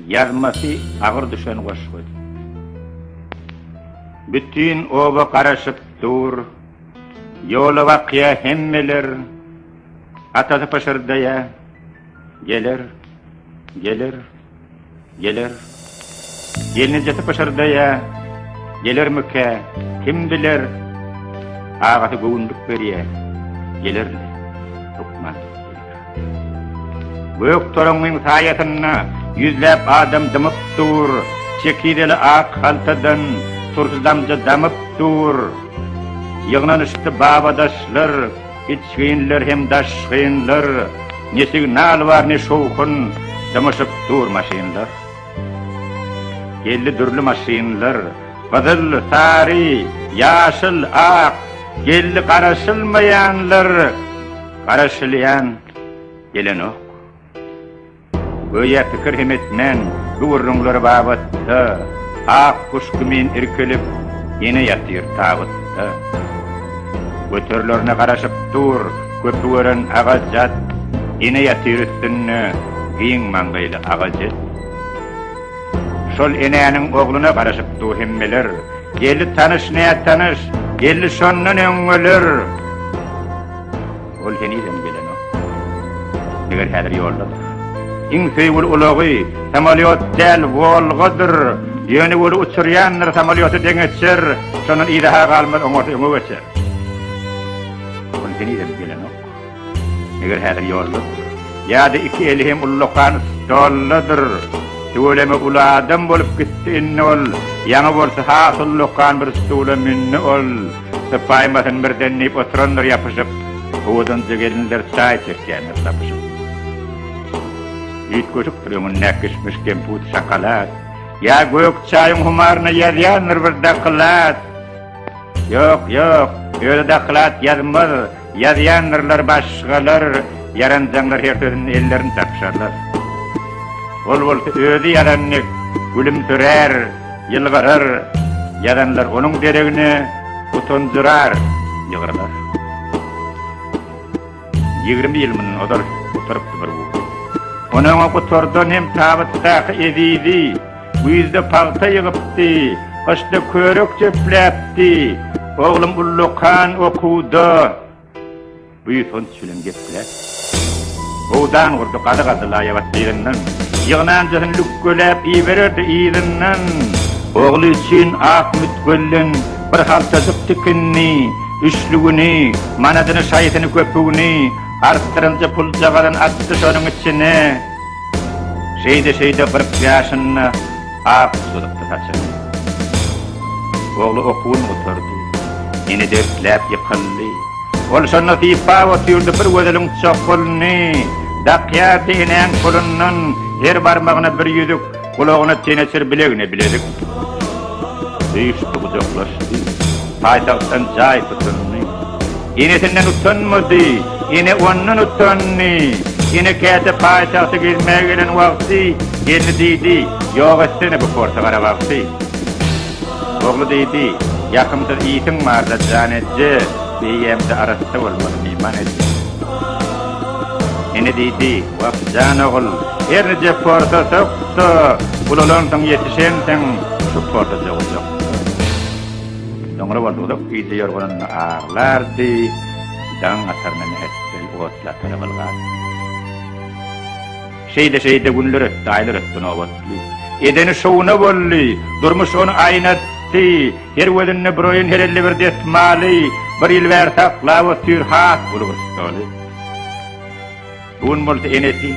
Ýazmasy agyr düşen goşgy. Bütin oba garaşyp dur. Ýola bakýa hemmeler. Atasy pyşyrdaýa. Geler. Geler. Geler. Gelnejesi pyşyrdaýa. Gelermikä? Kim biler? Agasy göwünlik berýä. Geler. Lukman. Gök toraňyň saýasynda ýüzläp adam dymyp dur, Çekizeli ak haltadan turşy damja damyp dur. Ýygnanyşdy babadaşlar, içginler hem daşgynlar, Ne signal bar, ne şowhun, dymyşyp dur maşynlar. Geldi dürli maşynlar, gyzyl, sary, ýaşyl, ak, Geldi garaşylmaýanlar. Garaşylýan gelenok. Göýä pikir hem etmän, bu gürrüňler babatda ak guş kimin irkilip, ýene ýatyr tabytda. Göterilerine garaşyp dur, köpi gören agajat, ýene ýatyr üstünde giň maňgaýly agajet. Şol enäniň ogluna garaşyp dur hemmeler, geldi tanyş-nätanyş, geldi şondan öňňeler. Ol henizem gelenok. Meger häzir ýoldadyr. Iň söýgüli ulagy samolýot däl, Wolgadyr. Ýöne weli uçurýandyr, samolýota deň etjer. Şondan yza-ha galmaz, oňarsa öňe geçer. Ol henizem gelenok. Meger häzir ýoldadyr. Ýa-da iki eli hem ullakan stoldadyr. Tüweleme uly adam bolup gitdi indi ol. Ýaňy bolsa has ullakan bir stula mündi ol. Sypaýmasyn birden diýip oturandyr ýapyşyp, Owadanjy gelinler çaý çekýändir sapyşyp. Üýtgeşikdir öňünde kişmiş, kemput, şokolad, Ýa gök çaýyň humaryna ýazýandyr bir doklad. Ýok, ýok, öýle doklad ýazmaz. Ýazýandyrlar başgalar, ýaranjaňlar her sözünden ellerini çarpyşarlar. Ol bolsa özi ýazan dek gülümsirär, ýylgyrar, ýazanlar onuň deregine utanjyrar, ýygrylar. Ýigrimi ýyl mundan ozal oturypdy bir gury. Ony-oňa gutardan hem tabytdaky ezizi, Güýzde pagta ýygypdy, gyşda körük jöpläpdi. Oglum ullakan okuwda, buýsanç bilen gepläpdi. Howdan gurdy, gazy gazdy laýabat gyzyndan. Ýygnanjasyny lükgeläp ibererdi yzyndan. Ogly üçin ak mütgölden bir haltajyk tikinini, üçlügini, manadyny-şaýysyny köpügini, artdyrynja puljagazyny atdy şonuň içine. Şeýde-şeýde kyrk ýaşynda ak uzalypdy saçyny. Ogly okuwyny gutardy. Ene dertläp ýykyldy. Ol şonda sypap otyrdy, bir gözeliň çokgulyny dakýardy, enäň golundan her barmagyna bir ýüzük, Gulagyna teneçir bilegine bilezik Söýüşdi gujaklaşdy Paýtagtdan jaý tutundy Enesinden utanmady Ene ondan utandy Ene käte paýtagta gezmäge gelen wagty Gelni diýdi Ýok etsene bu porsa gara wagty. Ogly diýdi, Ýakymsyz ýitiň barda jan etje, eýýämde arassa bolmaly myhman etme. Ene diýdi, Wah, jan ogul, her nije porsa sok-da, ulalansyň, ýetişensiň, şu porsa jogajak. Soňra bolsa uzak gije ýorganynda aglardy, daň atarynda mähetdel otly atara bylgady. Şeýde-şeýde günler ötdi, aýlar ötdi, nobatly. Edeni şowuna boldy. Durmuş ony aýnatdy. Her gözünde bir oýun, her elde bir desmaly. Bir ýyl bäri saklap otyr, has uly bir stoly. Bu gün bolsa enesi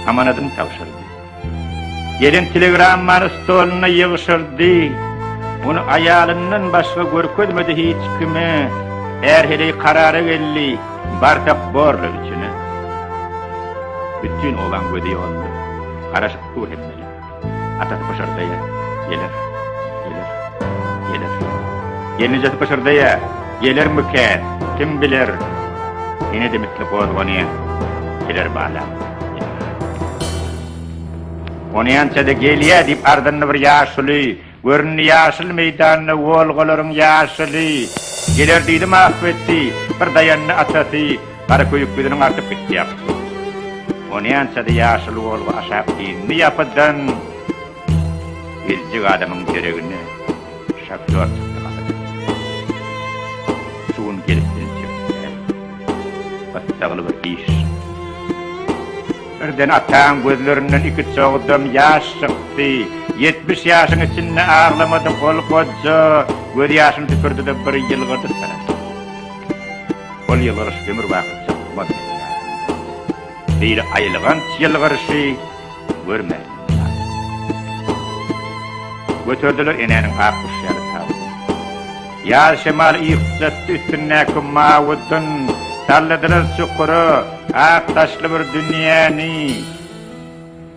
amanadyny tabşyrdy. Gelen telegrammany stoluna ýygşyrdy. Ony aýalyndan başga görkezmedi hiç kime. Är heleý karara geldi. Bartak borla içine. Bütin obaň gözi ýolunda. Garaşyp dur hemmeler. Atasy pyşyrdaýar, Geler, geler, geler. Gelnejesi pyşyrdaýar, Gelermikä, kim biler? Ene-de misli gozganýar, Geler balam, geler. Onýança-da gelýär diýip ardyny bir ýaşuly. Göründi ýaşyl meýdanda Wolgalaryň ýaşyly. Geler diýdim ah wetdi, Bir daýandy atasy, Garaköýük ýüzüniň artyp gitdi ýapysy. Onýança-da ýaşyl Wolga aşak indi ýapydan, Geljek adamyň deregine Şofýor çykdy gapydan. Şu gün gelip biljek däl, Gyssagly bir iş. Birden ataň gözlerinden iki çogdam ýaş çykdy. Ýetmiş ýaşyň içinde aglamadyk ol goja gözýaşyny tüpürdi-de bir ýylgyrdy tarap. Ol ýylgyryş ömürbaky çykmaz meselä. Beýle aýylganç ýylgyryşy görmädim ýaly. Göterdiler enäniň ak guşy ýaly tabyny. Ýaz şemal yrsdatdy üstündäki mawy dyn, Salladylar çukura, ak daşly bir dünýäni.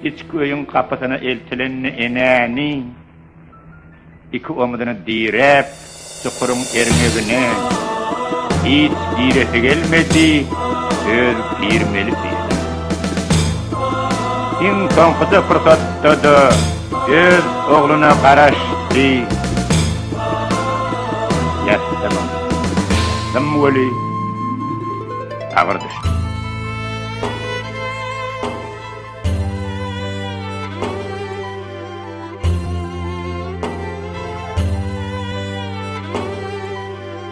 Içki öýüň gapysyna eltilende enäni, Iki omzuny diräp, çukuryň erňegine, Hiç giresi gelmedi, öz girmeli diýdi. Iň soňkuja pursatda-da öz ogluna garaşdy. Ýassynyň symwoly agyr düşdi.